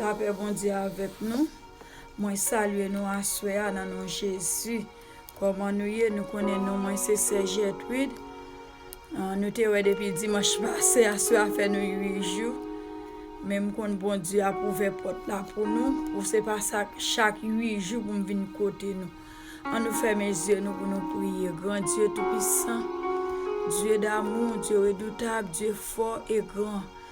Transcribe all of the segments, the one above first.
Lapè Bondye avèk nou, mwen salye nou aswè a nan non Jezi. Kòman nou ye? Nou konnen non mwen se sè Jètrid. Nou te wè depi dimanch pase, aswè a fè nou 8 jou. Men m konn Bondye ap ouvè pòt la pou nou, pou se pa chak 8 jou pou m vin kote nou. An nou fèmen zye nou pou nou priye. Gran Dye toupisan, Dye damou, Dye redoutab, Dye fò e gran.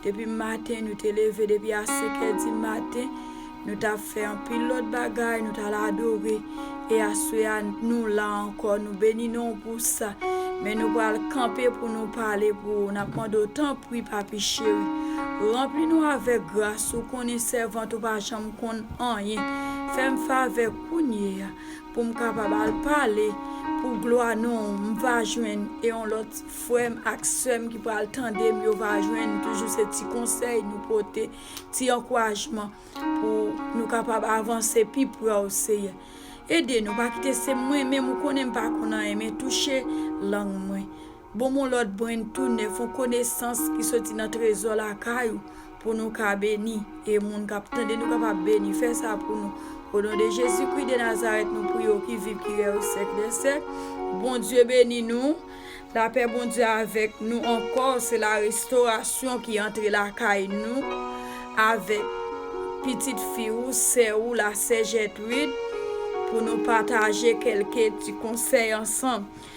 Depi maten nou te leve, depi a senkè di maten, nou t ap fè anpil lòt bagay, nou t al adore. E aswè a, nou la ankò, nou beni non w pou sa. Men nou pral kanpe pou nou pale pou ou, n ap mande w, tanpri, Papi cheri, ranpli nou avèk gras ou, konnen sèvant ou pa janm konn anyen. Fè m favè kounyeya pou m kapab al pale pou glwa non w, m va jwenn, e yon lòt. Frèm ak sèm ki pral tandem yo va jwenn toujou se ti konsèy nou pote, ti ankourajman pou nou kapab avanse pi prè w Seyè. Ede nou pa kite se mwen menm ou konnen m pa konn anyen men touche lang mwen. Bonm on lòt brenn tou nèf, on konesans ki soti nan trezò lakay ou. Pou nou ka beni, e moun kap tande nou kapab beni, fè sa pou nou. O non de Jezi Kri de Nazarèt nou priye w ki viv ki rèy o sèk dè sèk. Bondye beni nou. Lapè Bondye avèk nou ankò. Se la restorasyon ki antre lakay nou avèk pitit fi ou, sè ou la sè Jètrid pou nou pataje kèlke ti konsèy ansanm.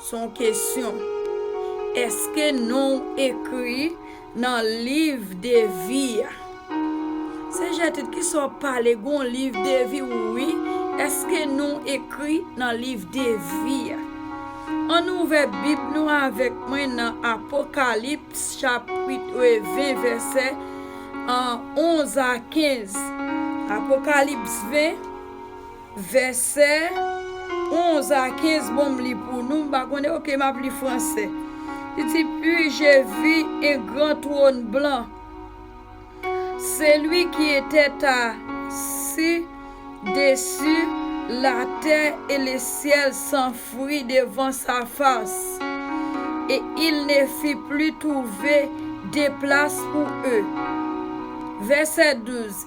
Son kesyon. Eske non w ekri nan liv de vi a? Se Gertrude kisa w pale gon liv de vi w wi eske non w ekri nan liv de vi a? An nou ouvè bib nou avèk mwen nan Apokalips chapwit 20 vèsè 11 a 15. Apokalips 20. Vèsè 11 a 15 bon m li pou nou, m pa konnen ok map li fransè. Li di Puis je vis un grand trône blanc, celui qui etait assis dessus la terre et le ciel s'enfuit devant sa face, et il ne fut plus trouvé de place pour eux. Vèsè 12.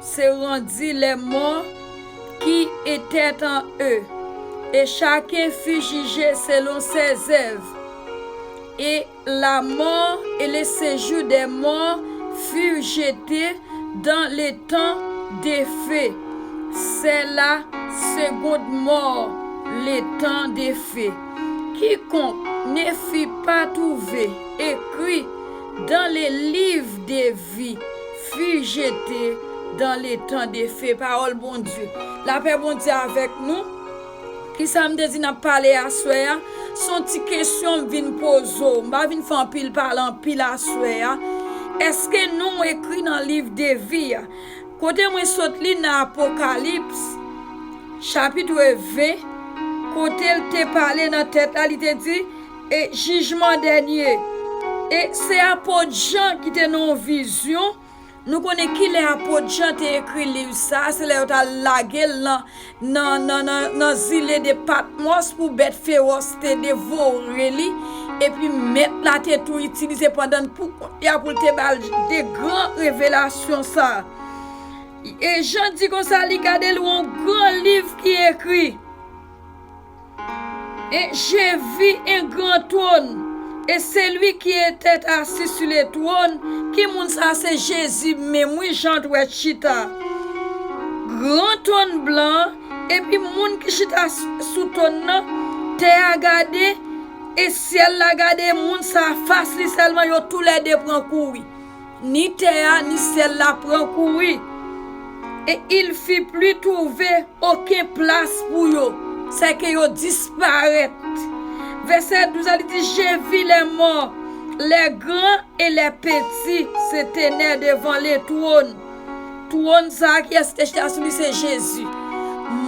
Se randi lè mò ki etèt an e, e chaken fi jije selon sè zèv, e la mò e le sejou dè mò fi jete dan le tan de fe, sè la segond mò le tan de fe. Kikonk ne fi pa touve ekri dan le liv de vi, Fi jete dan le tan de fe pawol bondye lapè bondye avek nou kisam te di nap pale aswè a son ti kesyon m vin poze w m pa vin fè anpil pale anpil aswè a eske nonw ekri nan liv de vi a kote mwen sot li nan apokalips chapitre 20 kotel te pale nan tèt la li te di E jijman dènye. E se apot Jan ki te nan yon vizyon, nou konnen kilè apot Jan te ekri liv sa, se lè yo t al lage l nan zile de Patmòs pou bèt fewòs te devore li, epi Mèt la te tou itilize pandan l pou kont li a pou l te ba l de gran revelasyon sa. E Jan di konsa li gade l wè yon gran liv ki ekri. E je vi en gran twòn, e seli ki etet asi su le twòn, ki moun sa a se Jezi menm wi jan t wè t chita gran twòn blan an epi moun ki chita sou twòn nan tè a gade e syèl la gade moun sa a fas li sèlman yo tou lè de pran kou wi. Ni tè a ni syèl la pran kou wi, e il fi pli twouve oken plas pou yo, sèke yo disparèt. Vèsè 12 a li di, Je vi lè mò, lè gran e lè peti, se tenè devan le twòn. Twòn sa a kiyès te chita sou li se Jezi.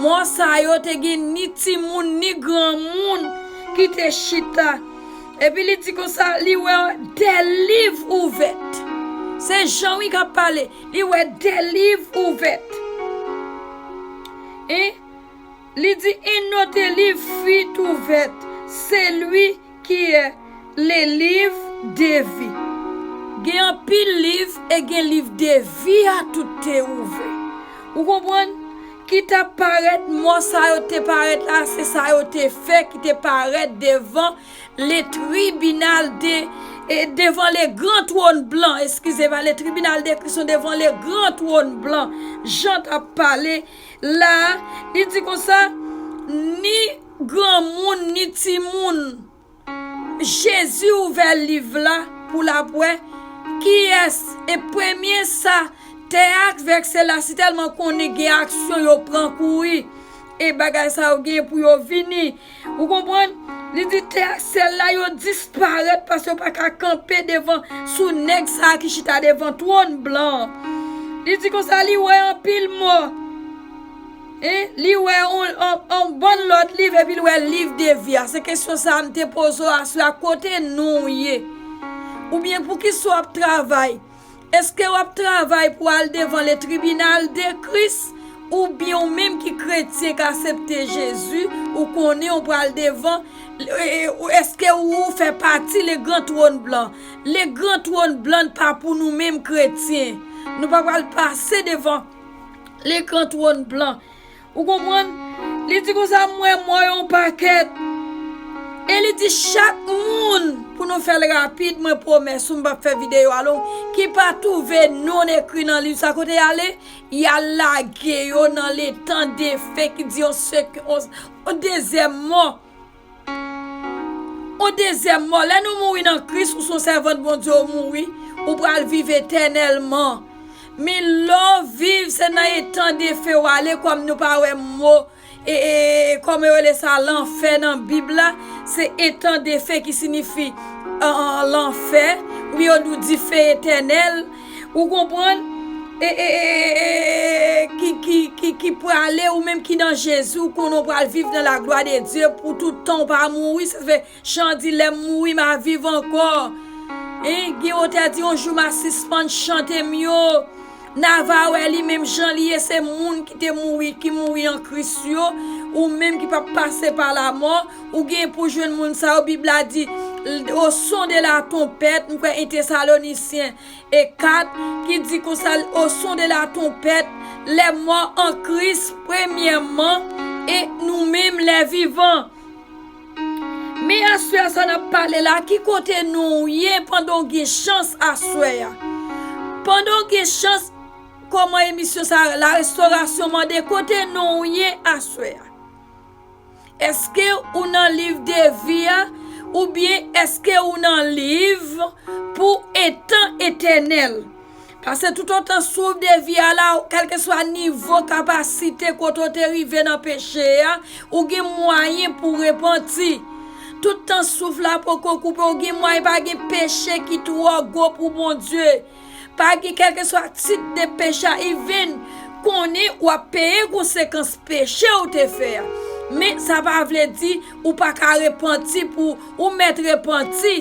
Mò sa yo te gen ni timoun ni granmoun ki te chita. Epi li di konsa, li wè de liv ouvèt. Se Jan wi kap pale. Li wè de liv ouvèt. Hein? Li di yn ote liv fuit ouvèt. Se lui ki è le liv de vi. Gen anpil liv e gen liv de vi a tout te ouvè. Ou konprann? Ki t ap parèt, mò sa yo te parèt la, se sa yo te fè ki te parèt devan le tribinal de, devan le gran twòn blan, eskize va, le tribinal de Kris lan devan le gran twòn blan. Jan t ap pale la a, li di konsa, Ni granmoun ni timoun. Jezi ouvè liv la pou l ap wè kiyès e premye sa tè a ak vèkse la sitèlman konnen gen aksyon yo pran kouri e bagay sa yo gen pou yo vini ou konprann li di tè ak syèl la yo disparèt paske yo pa ka kanpe devan sou nèg sa a ki chita devan twòn blan an li di konsa li wè anpil mò. Hein li wè on bon lòt liv epi li wè liv de vi a se kesyon sa m te poze w aswè a kote nou w ye oubyen pou kisa w ap travay eske w ap travay pou al devan le tribinal de kris oubyen w menm ki kretyen k asepte jezi ou konnen w pral devan eske ou fè pati le gran twòn blan le gran twòn blan pa pou nou menm kretyen nou pa pral pase devan. Lekran twòn blan. Ou konprann? Li di konsa, M wè mò yo an pakèt. E li di chak moun, pou nou fè l rapid, mwen pwomès ou m pap fè videyo a long, ki pa twouve non l ekri nan liv sa kote y ale, y al lage yo nan letan defen ki di yon dezè mò. Ou dezyèm mò, lè nou mouri nan Kris, ou son sèvant Bondye ou mouri, ou pral viv etènèlman. Min lè w viv se nan etan defen w ale kòm nou pa wè mo kòman yo rele sa lanfè nan bib la se etan defen ki sinifi lanfè oubyen yo di w dife etènèl. Ou konprann? E, e, e, e, e, e, e, e, ki, ki, ki, ki prale, ou menm ki nan Jezi, ou konnen ou pral viv nan laglwa de Dye pou tout tan, ou pa mouri. Sa fè, chan di, Lè m mouri, m a viv ankò. Hein? Gen yon otè di, Yon jou m a sispann chante m yo. N a va wè li menm jan li ye, se moun ki te mouri, ki mouri an Kris yo, ou menm ki p ap pase pa lamò, Ou gen pou jwenn moun sa yo, bib la di, o son de la tonpèt, m kwè 1 tesalonicien e 4, ki di konsa, o son de la tonpèt, lè mò an kris premyèman, e nou menm lè vivan. Men aswè sa nap pale la, ki kote nou ou ye pandan ou gen chans aswè a? Pandan ou gen chans, kòman emisyon sa, la restorasyon mande, kote nou ou ye aswè a? Eske ou nan liv de vi a oubyen eske ou nan liv pou etan etènèl? Pase toutotan souf de vi a la, kèlkeswa nivo kapasite kote ou te rive nan peche a, ou gen mwayen pou repanti. Tout tan souf la poko koupe, ou gen mwayen, pa gen peche ki twò gwo pou Bondye. Pa gen kèlkeswa tit de peche a u vin konnen wap peye konsekans peche ou te fè a men sa pa vle di ou pa ka repanti pou ou mèt repanti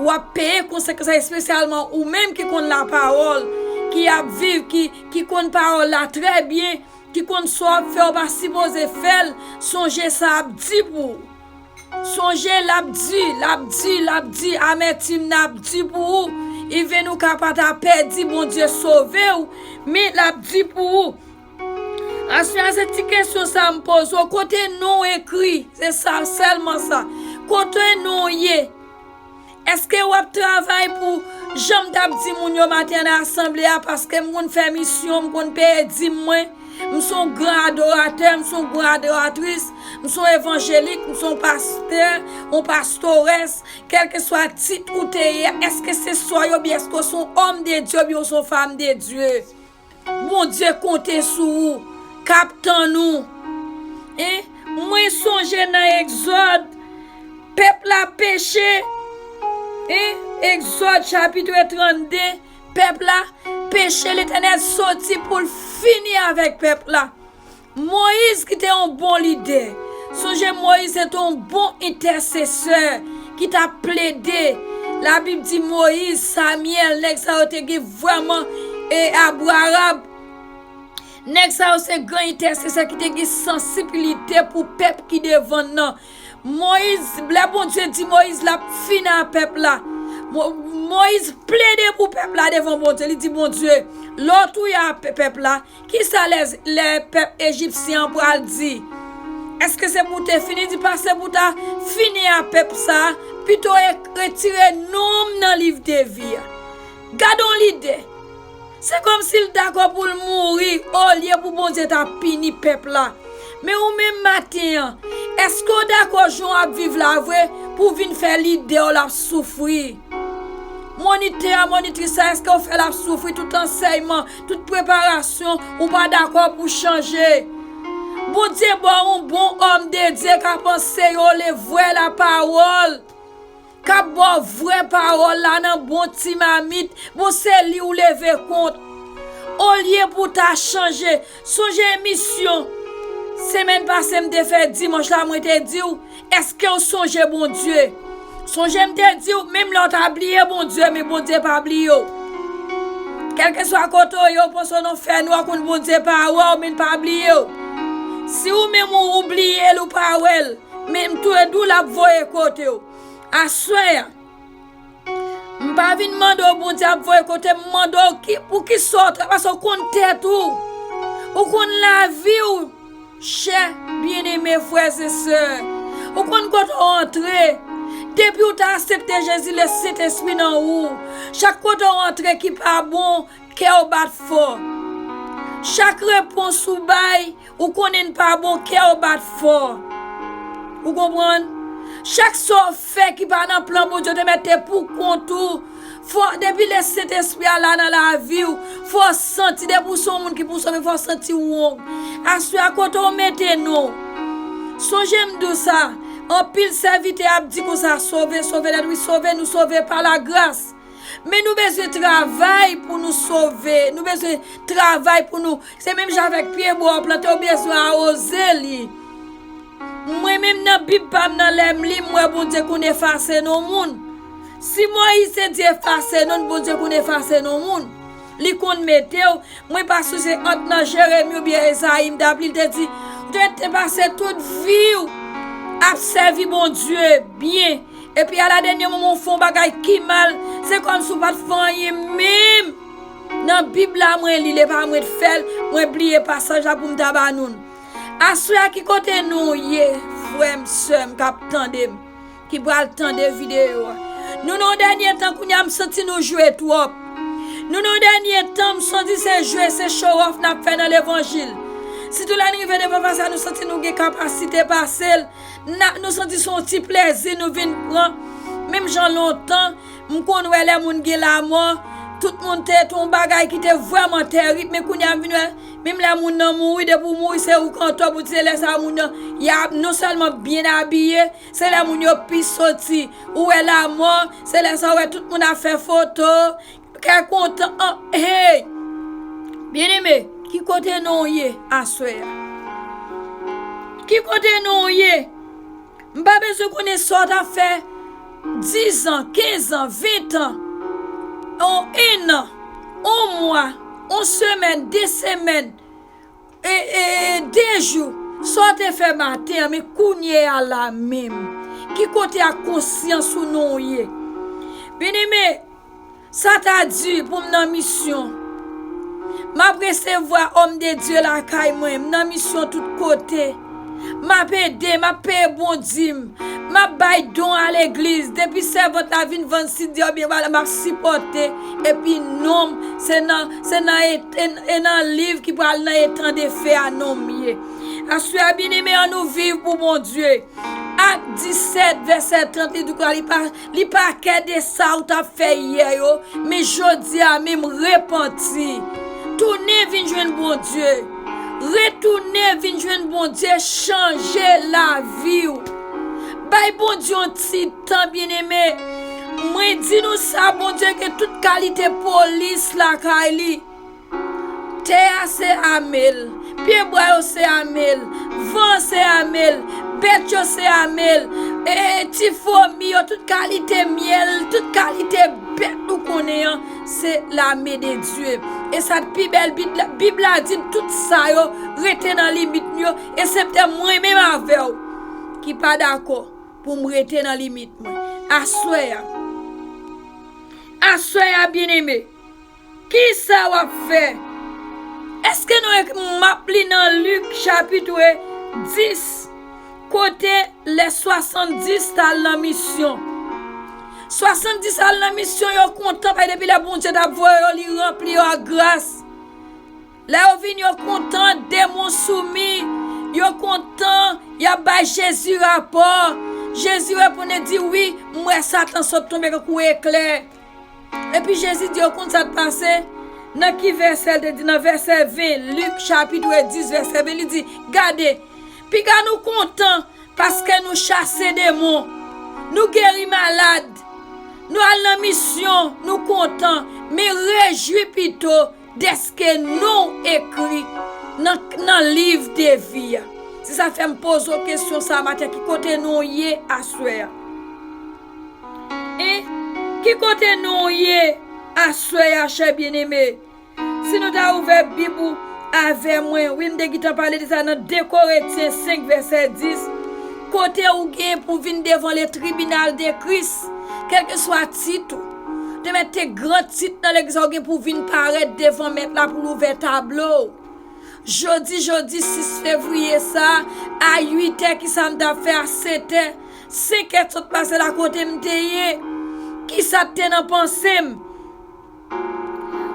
wap peye konsekans la espesyalman ou menm ki konn la pawòl ki ap viv ki konn pawòl la trè byen ki konn sa wap fè ou pa sipoze fèl sonje sa ap di pou ou. Sonje lap di, lap di, lap di amètim nan ap di pou ou, even ou ka pata pèdi Bondye sovew men lap di pou ou. Aswè a se ti kesyon sa m poze w kote nonw ekri se sa sèlman sa kote nonw ye. Eske wap travay pou janm tap di moun yo maten nan asanble a paskem konn fè misyon m konn peye dim mwen m son gran adoratè m son gran adoratris m son evanjelik m son pastè on pastores kelkeswa tit ou te ye a eske se sa yo byen eske w son òm de Dye oubyen w son fanm de Dye. Bondye konte sou ou kap tann ou hein mwen sonje nan exode pèp la peche hein exode chapitre 32 pèp la peche letènèl soti poul fini avèk pèp la Moyiz ki te yon bon lidè. Sonje Moyiz se te yon bon entèsesè ki t ap plede. Labib di Moyiz, Samyèl, nèg sa yo te gen vrèman abouarab. Nèg sa yo se gran entèsesè ki te gen sansibilite pou pèp ki devan l nan. Moyiz, lè Bondye di Moyiz l ap fini a pèp la, Moyiz plede pou pèp la devan Bondye. Li di Bondye, Lè w touye a pèp la. Ki sa lè pèp ejipsyen an pral di? Èske se pou te fini? Di pa se pou ta fini a pèp sa a, pito e retire non m nan liv de vi a. Gad on lide! Se kòmsi l dakò pou l mouri olye pou Bondye ta pini pèp la. Men ou menm maten an, èske w dakò jan w ap viv la vre pou w vin fè lide w l ap soufri? Monitè a, monitris la, èske w fè l ap soufri tout ansèyman? Tout preparasyon ou pa dakò pou chanje. Bondye baw yon bon òm de Dye kap anseyew le vwè la pawòl. Kap baw vwè pawòl la nan bon ti mamit. Bon se li ou leve kont. Olye pou ta chanje. Sonje emisyon semèn pase m te fè dimanch la mwen te diw. Eskew sonje Bondye? Sonje m te diw menm lè w ta bliye Bondye men Bondye pa bliye w. Kèlkeswa kote w ye w panse w nan fènwa konn Bondye pa wè w men l pa bliye w. Si ou menm ou ou bliye l ou pa wè l menm tou e di w lap voye kote w. Aswè a. M pa vin mande w Bondye ap voye kote m mande w pou kisa w travay paske w konn tèt ou ou konn lavi w chè byeneme frè e sè ou konn kote w antre depi w ta asepte Jezi le Sentespri nan ou chak kote w antre ki pa bon kè w bat fò chak repons ou bay Ou konnen n pa bon, kè w bat fò. Ou konprann? Chak sa w fè ki pa nan plan Bondye w te mete pou kont ou, fò, depi lè Sentespri a la nan lavi w, fò w santi, depi w se yon moun ki pou sove, fò w santi w wong. Aswè a, kote w mete non w? Sonje m di w sa, anpil sèvitè ap di konsa, Sove, sove, lè nou di sove, nou sove pa lagras. Men nou bezwen travay pou nou sove, nou bezwen travay pou nou, se menm jan avèk pye bwa ou plante ou bezwen awoze li. Mwen menm nan bib pam nan lèm li mwen Bondye konn efase non moun. Si Moïse te di efase non Bondye konn efase non moun. Li konn metew, mwen pa souse ant nan Jérémie ou byen Esaïe m tap li li te di ou te pase tout viw ap sèvi Bondye byen. Epi ala dènye moman ou fè yon bagay ki mal, se kòmsi ou pa t fè anyen menm. Nan Bib la mwen li l e pa mwen t fè l, mwen bliye pasaj la pou m ta ba nou l. Aswè a ki kote nou ye frè m, sè m k ap tande m, ki pral tande videyo a? Nou nan yon dènye tan kounye a m santi nou jwe twòp. Nou nan yon dènye tan m santi se jwe, se chowòf n ap fè nan levanjil. Sitou lè n rive devan pastè a nou santi nou gen kapasite pase l. Nou santi son ti plezi nou vin pran Menm jan lontan m konn wè lè moun gen lamò Tout moun te ton bagay ki te vrèman terib Men kounye a m vin wè Menm lè moun nan mouri depi ou mouri se ou kanto pou di se lè sa moun nan Ya non sèlman byen abiye Se lè moun yo pi soti Ou wè lamò se lè sa ou wè tout moun ap fè foto Kè kontan an hey. Byeneme, ki kote nou ye aswè a? Ki kote nou ye? M pa bezwen konnen sa w t ap fè dizan, kenzan, ventan, on ennan, on mwa, on semèn, de semèn. Dejou, sa w te fè maten an, men kounye a la a menm, ki kote ak konsyans ou non w ye? Byeneme, sa ta di pou m nan misyon. M ap resevwa òm de Dye lakay mwen, m nan misyon tout kote. Map ede, map peye bon dim, map bay don a legliz, depi sèvant la vin vann sid li oubyen bagay map sipòte epi nonm se nan se nan e nan liv ki pral nan etan de fe a nonm ye. Aswè a byeneme an nou viv pou Bondye. Ak 17 vèsè 30 li di konsa li pa Li pa kè de sa ou tap fè yè yo, men jodi a menm repanti. Tounen vin jwenn Bondye. Retounen vin jwenn Bondye chanje lavi ou. Bay Bondye yon ti tan byeneme. Mwen di nou sa Bondye gen tout kalite polis lakay li. Tè a se ame l. Pye bwa yo se ame l. Van an se ame l. Bèt yo se ame l. Ti fwomi yo, tout kalite myèl, tout kalite bèt nou konnen an, se lame de Dye. E sa k pi bèl, Bib la di n tout sa yo rete nan limit m yo, esepte mwen menm avè w ki pa dakò pou m rete nan limit mwen. Aswè a, aswè a, byeneme. Kisa wap fè? Eske nou ek map li nan Luc chapitre 10 kote lè 70 tal nan misyon. 70 al nan misyon yo kontan paske depi lè Bondye tap voye yo li ranpli yo ak gras. Lè yo vini yo kontan demon soumi, yo kontan yap bay Jezi rapò. Jezi reponn e di wi m wè satan sot tonbe kankou eklè. Epi Jezi di yo, Konn sa k pase? Nan ki vèsè l te di? Nan vèsè 20, Lik chapitre 10 vèsè 20, li di, Gade, piga nou kontan paske nou chase demon, nou geri malad, nou al nan misyon, nou kontan, men rejwi pito dèske non w ekri nan liv de vi a. Se sa k fè m poze w kesyon sa a maten, ki kote non w ye aswè a? Hein ki kote nou ye aswè ya chè byen eme si nou ta ouvè bib ou avè mwen wi m te gitan pale de sa nan 2 koretyen 5 vèsè 10 kote ou gen pou vin devan le tribinal de kris kelke swa tit ou te mèt te gran tit nan legliz la ou gen pou vin parèt devan mèt la pou l ouvè tablo ou jodi jodi 6 fevriye sa a 8 è kisa m ta fè a 7 è 5 èd sot pase la kote m te ye, ki sa k te nan panse m.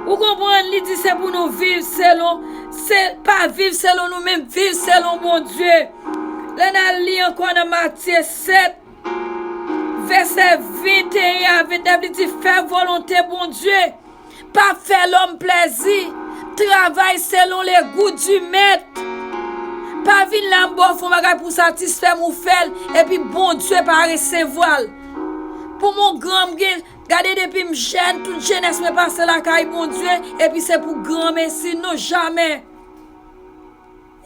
Ou konprann, li di se pou nou viv selon, se pa viv selon nou men viv selon Bondye. Lè n al li ankò nan Matye 7, vèsè 21 a 29, li di fè volonte Bondye. Pa fè lòm plèzi. Travay selon le gou di mèt. Pa vin la m ba w fon bagay pou w satisfè m ou fè l epi Bondye pa resevwa l. Pou mwen gran m gen, gade depi m jèn tout jenès mwen pase lakay Bondye epi se pou granmesi non jamè.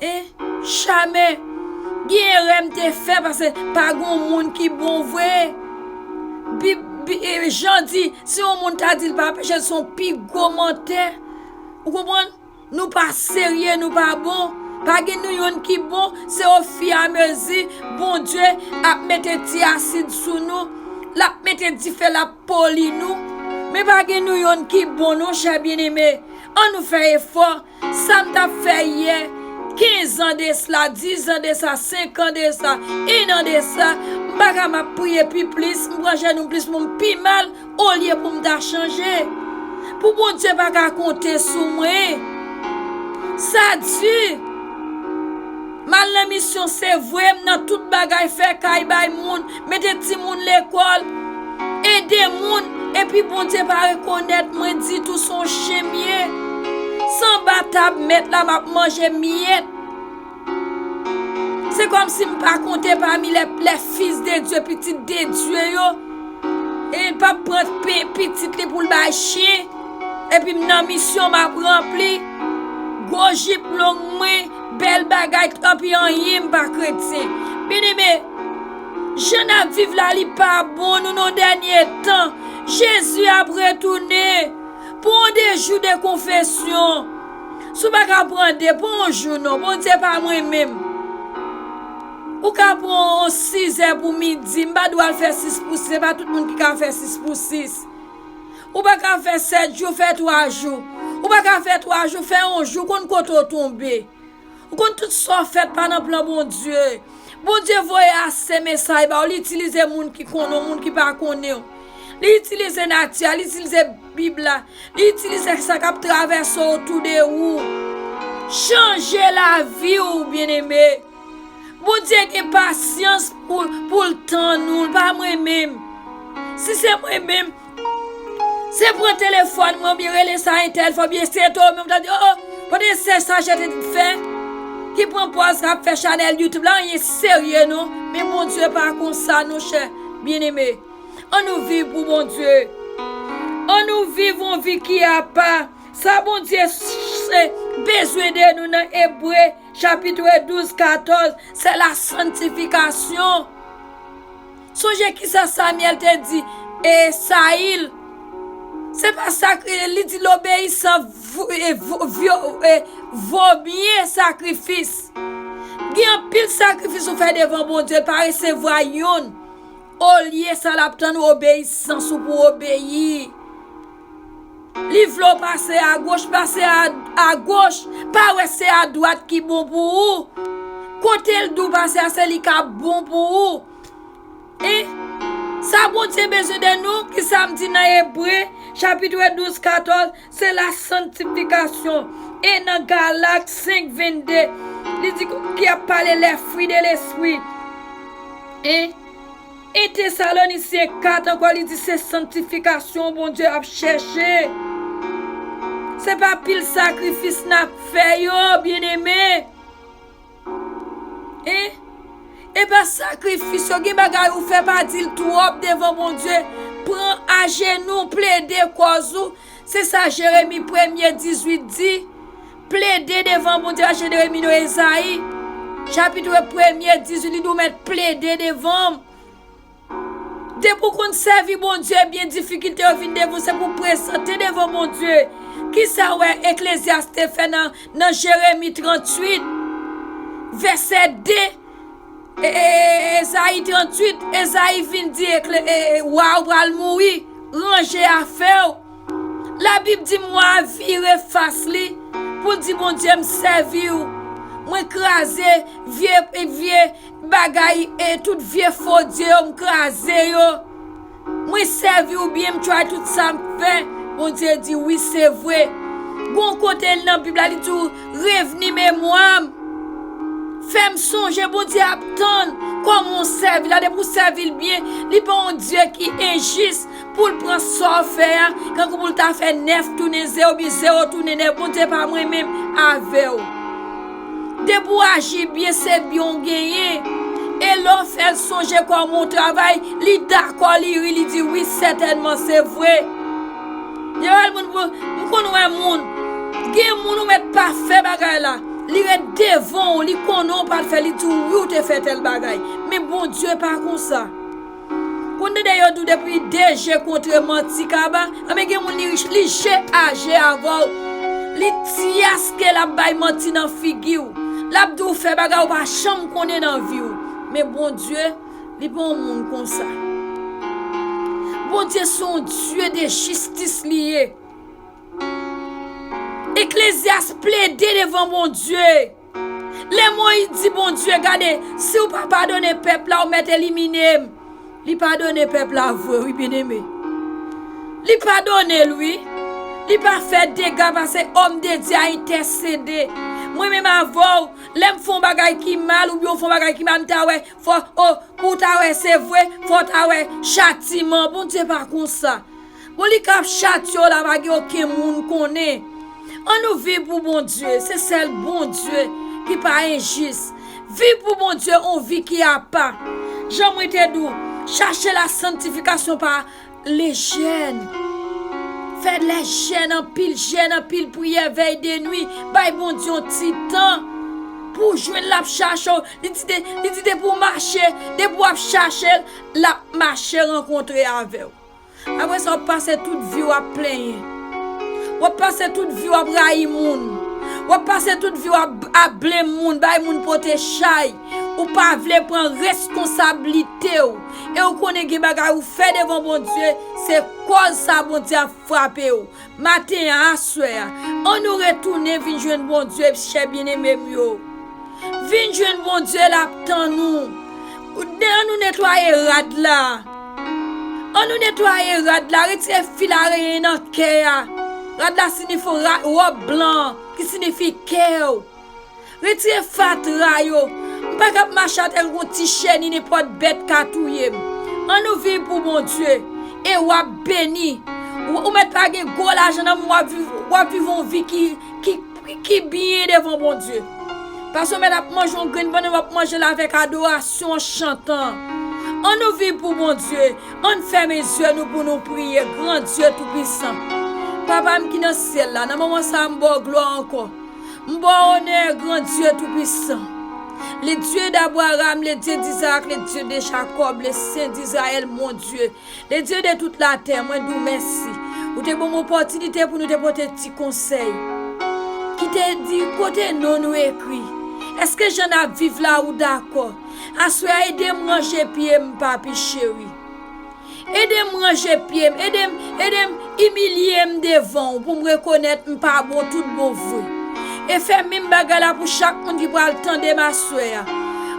Hein Chame Gen erè m te fè pase pa gon moun ki bon vre Bib Jan di si yon moun ta di l pa peche l son pi gwo mantè Ou konprann Nou pa serye nou pa bon Pa gen nou yonn ki bon se o fi a mezi Bondye ap mete ti asid sou nou L ap mete dife l ap poli nou Men pa gen nou yonn ki bon non chè byeneme An nou fè efò Sa m t ap fè yè, kenzan de sla, dizan de sa, senkan de sa, ennan de sa, m pa ka m ap priye pi plis, m pran jenou m plis pou m pi mal olye pou m ta chanje. Pou Bondye pa ka konte sou mwen. Sa di, m al nan misyon se vwe m nan tout bagay, fè kay bay moun. Mete timoun lekol, ede moun, epi Bondye pa rekonet mwen ditou son chen m ye. Sanba tab met la map manje miyet. Se kom si m pa konte pami le fils de Dieu, pitit de Dieu yo. E l pap pran pitit li pou l bay chen. Epi m nan misyon map ranpli. Gwo jip long mwen, bel bagay, tanpi anyen m pa kretyen. Byeneme. Jan nap viv la li pa bon nou nan dènye tan Jezi ap retounen pran w de jou de konfesyon si w paka pran 2 pran yon jou non Bondye pa mwen menm ou ka pran yon 6 è pou midi m pa di w al fè 6 pou 6 se pa tout moun ki ka fè 6 pou 6 ou paka fè 7 jou fè 3 jou ou paka fè 3 jou fè yon jou konn kote w tonbe Ou konn tout sa w fè pa nan plan Bondye. Bondye voye ase mesay ba w, li itilize moun ki konnen w, moun ki pa konnen w. Li itilize nati a, li itilize Bib la, li itilize sa k ap travèse otou de ou. Chanje lavi w byeneme. Bondye gen pasyans pou l tann ou, l pa mwen menm. Si se mwen menm. Se pran telefòn mwen oubyen rele sa entèl fè oubyen se to menm ta di o o kote sè sa jete t fè ki pran pòz kap fè chanèl youtube la anyen serye non men Bondye pa konsa non chè byeneme an nou viv pou Bondye an nou viv yon vi ki apa sa Bondye bezwen de nou nan ebre chapitre 12 14 se la santifikasyon Sonje ki sa Samyèl te di Sayil, Se pa sakri, li di lobeyisan vo mye sakrifis. Gen anpil sakrifis ou fè devan Bondye, l pa resevwa youn. Olye sa l ap tann obeyisans ou pou w obeyi. Li vle w pase agoch, pase agoch, pa wè se adwat ki bon pou ou. Kote l di w pase a se li k ap bon pou ou. I. Sa Bondye bezwen de nou, ki sa m di nan Ebre, chapit vè 12, 14, se la sanktifikasyon. E nan Galat 5, 22, li di ki ap pale lè fwi de lespwi. I. I Tesalonisyen 4 ankò li di se sanktifikasyon Bondye ap chèche. Se pa pil sakrifis n ap fè yo, byeneme. Hein epa sakrifis yo gen bagay ou fè pa dil twòp devan Bondye pran ajenou plede kòz ou se sa Jeremi premye 18 di plede devan Bondye pa Jeremi non Ezayi chapitre premye 18 li di ou mèt plede devanm. Depi w konn sèvi Bondye ebyen difikilte yo vin devan w se pou w prezante devan Bondye. Kisa w wè Eklezyas te fè nan Jeremi 38 vèsè 2 Ezayi 38 Ezayi vin di wa a ou pral mouri ranje afè w Labib di wa a vire fas li pou l di Bondye m sèvi w mwen kraze vye Bagay e tout vye fo dye yo m kraze yo mwen sèvi ou byen m try tout sam k fè Bondye di wi se vre gon kote nan bib la li di w revni memwa m fèm sonje Bondye ap tann kòman w sèvi la depi w sèvi l byen li pa yon dye ki enjis Pou l pran sa w fè a, kankou pou l ta fè nèf tounen ze oubyen ze yo tounen nèf, Bondye pa mwen menm avè w. Depi w aji byen, se byen w genyen. E lè w fè l sonje kòman w travay, li dakò, li ri, li di, Wi, sètènman, se vre. Lè w al moun pou, M konn wè moun. Gen moun ou mèt pa fè bagay la, li ret devan w, li konnen w pa t fè, li di w, Wi, w te fè tèl bagay. Men Bondye pa konsa. Konn dede yo dou depi DG kontre manti kaba anben gen moun li je a je avèw li tiaske lap bay manti nan figiw lap diw fè bagay ou pa janm konnen nan viw men Bondye li pa yon moun konsa Bondye se yon Dye de jistis li ye Eklezyas plede devan Bondye. Lè Moyiz di Bondye, Gade, si ou pa padone pèp la, ou mèt elimine m. Li padone pèp la vre wi byeneme. Li padone l wi. Li pa fè dega pase òm de Dye a entèsede. Mwen menm avè w, lè m fè yon bagay ki mal oubyen ou fè yon bagay ki mal, m ta wè fò, o, pou w ta wè se vre, fò w ta wè chatiman. Bondye pa konsa. Bon li kap chat yo la pa gen oken moun konnen an nou viv pou Bondye se sèl Bondye ki pa enjis viv pou Bondye on vi ki apa jan mwen te di w chache la santifikasyon pa le jèn fè lè jèn anpil jèn anpil priyè vèy de nwi bay Bondye yon ti tan pou w jwenn lap chache w li di li di depi w mache depi wap chache l lap mache rankontre avè w. Apre sa w ap pase tout vi w ap plenyen. W ap pase tout vi w ap rayi moun. W ap pase tout vi w ap blame moun, bay moun pote chay. Ou pa vle pran reskonsablite w. E ou konnen gen bagay ou fè devan Bondye, se kòz sa Bondye ap frape w. Maten an, aswè an, an nou retounen vin jwenn Bondye, chè byeneme m yo. Vin jwenn Bondye, l ap tann nou. An nou netwaye rad la. An nou netwaye rad la, retire fil areyen nan kè a. Rad la signifo ròb blan an, ki signifi kè ou. Retire fatra yo. M pa kab mache atè l gon ti cheni nenpòt bèt ka touye m. An nou viv pou Bondye e w ap beni. Ou mèt pa gen gwo lajan nan men w ap viv yon vi ki byen devan Bondye. Pase w mèt ap manje yon grenn bannann w ap manje l avèk adorasyon an chantan. An nou viv pou Bondye. An n fèmen zye nou pou nou priye gran Dye toupisan. Papa m ki nan syèl la nan moman sa a m ba w glwa ankò. M ba w onè, gran Dye Toupisan. Le Dye d'Abraram, le Dye d'Izarak, le Dye de Jakòb, le Sen d'Izrayèl, mon Dye, le Dye de tout latè, mwen di w mèsi. Ou te ban m opòtinite pou nou te pote ti konsèy ki te di kote non nou ekri. Èske jan n ap viv la ou dakò? Aswè a ede m ranje pye m, papi cheri. Edem ranje pyem, edem, edem imilyem devanw poum rekonèt m pa bon tout bon vre e fè minm bagay la pou chak moun ki pral tandem aswè a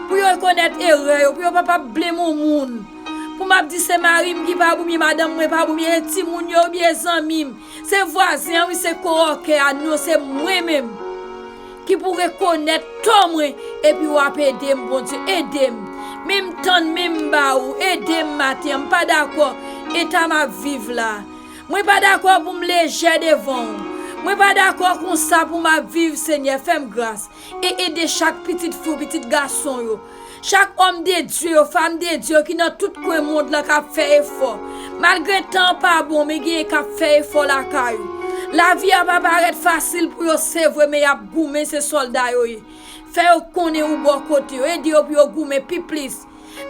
pou yo rekonèt erè yo pou yo pa pa ap blame on moun pou map di se marim ki pa bon byen madanm mwen pa bon byen e timoun yo ubyen zanmim se vwazen an wi se kowòkè a non se mwen menm. Ki pou rekonèt tò mwen epi wap edem bondye edem men m tann men m ba ou edem maten an m pa dakò eta map viv la mwen pa dakò pou m lejè devan ou mwen pa dakò konsa pou map viv senyè fèm gras e ede chak pitit fi w pitit gason yo Chak òm de Dye yo, fam de Dye yo ki nan tout kwen mond lan k ap fè efò. Malgre tan an pa bon, men genyen k ap fè efò lakay ou. Lavi a pa parèt fasil pou yo se vre men y ap goumen se sòlda yo ye. Fè yo konnen ou bò kote yo, ede yo pou yo goumen pi plis.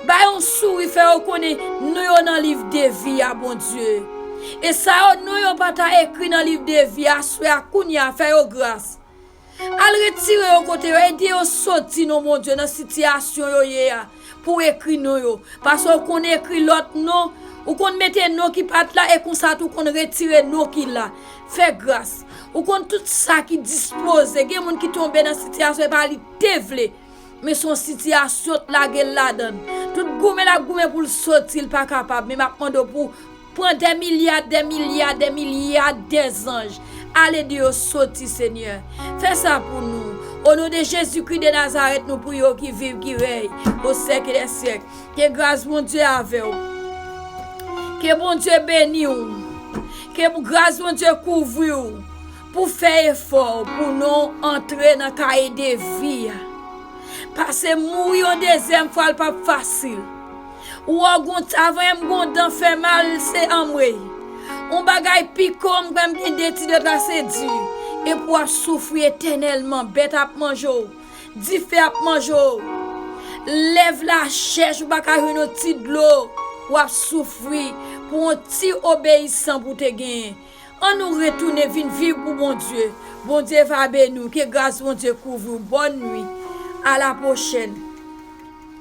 Ba yo yon souri fè yo konnen non yo nan liv de vi a Bondye. E sa yo non yo pa ta ekri nan liv de vi a aswè a kounye a fè yo gras. Al retire yo kote yo, ede yo soti non Bondye nan sitiyasyon yo ye a pou w ekri non yo, paske ou konn ekri lòt non, ou konn mete non ki pat la e konsa tou konn retire non ki la, fè gras, ou konn tout sa ki dispoze, gen moun ki tonbe nan sitiyasyon e pa li te vle, men son sitiyasyon t lage l ladann, tout goumen lap goumen pou l soti l pa kapab, men map mande w pou. Pran dè milya dè milya dè milya dè zanj ale di yo soti senyè fè sa pou nou o non de jezi kri de nazarèt nou priye w ki viv ki rèy o sèk dè sèk ke gras bondye avè w ke bondye beni w ke gras bondye kouvri w pou fè efò pou non antre nan kaye de vi a pase mouri yon dezyèm fwa l pap fasil. Uo gon ta vre m gon dan fè mal se anmweyy on bagay piko m kwè m gen de ti deta se di epi w ap soufri etènèlman bèt ap manje w dife ap manje w lèv la chèch ou pa ka jwenn on ti dlo w ap soufri pou on ti obeyisan pou w te genyen an nou retounen vin viv pou Bondye Bondye va beni w ke gras Bondye kouvri w bòn nwit a la pwochèn.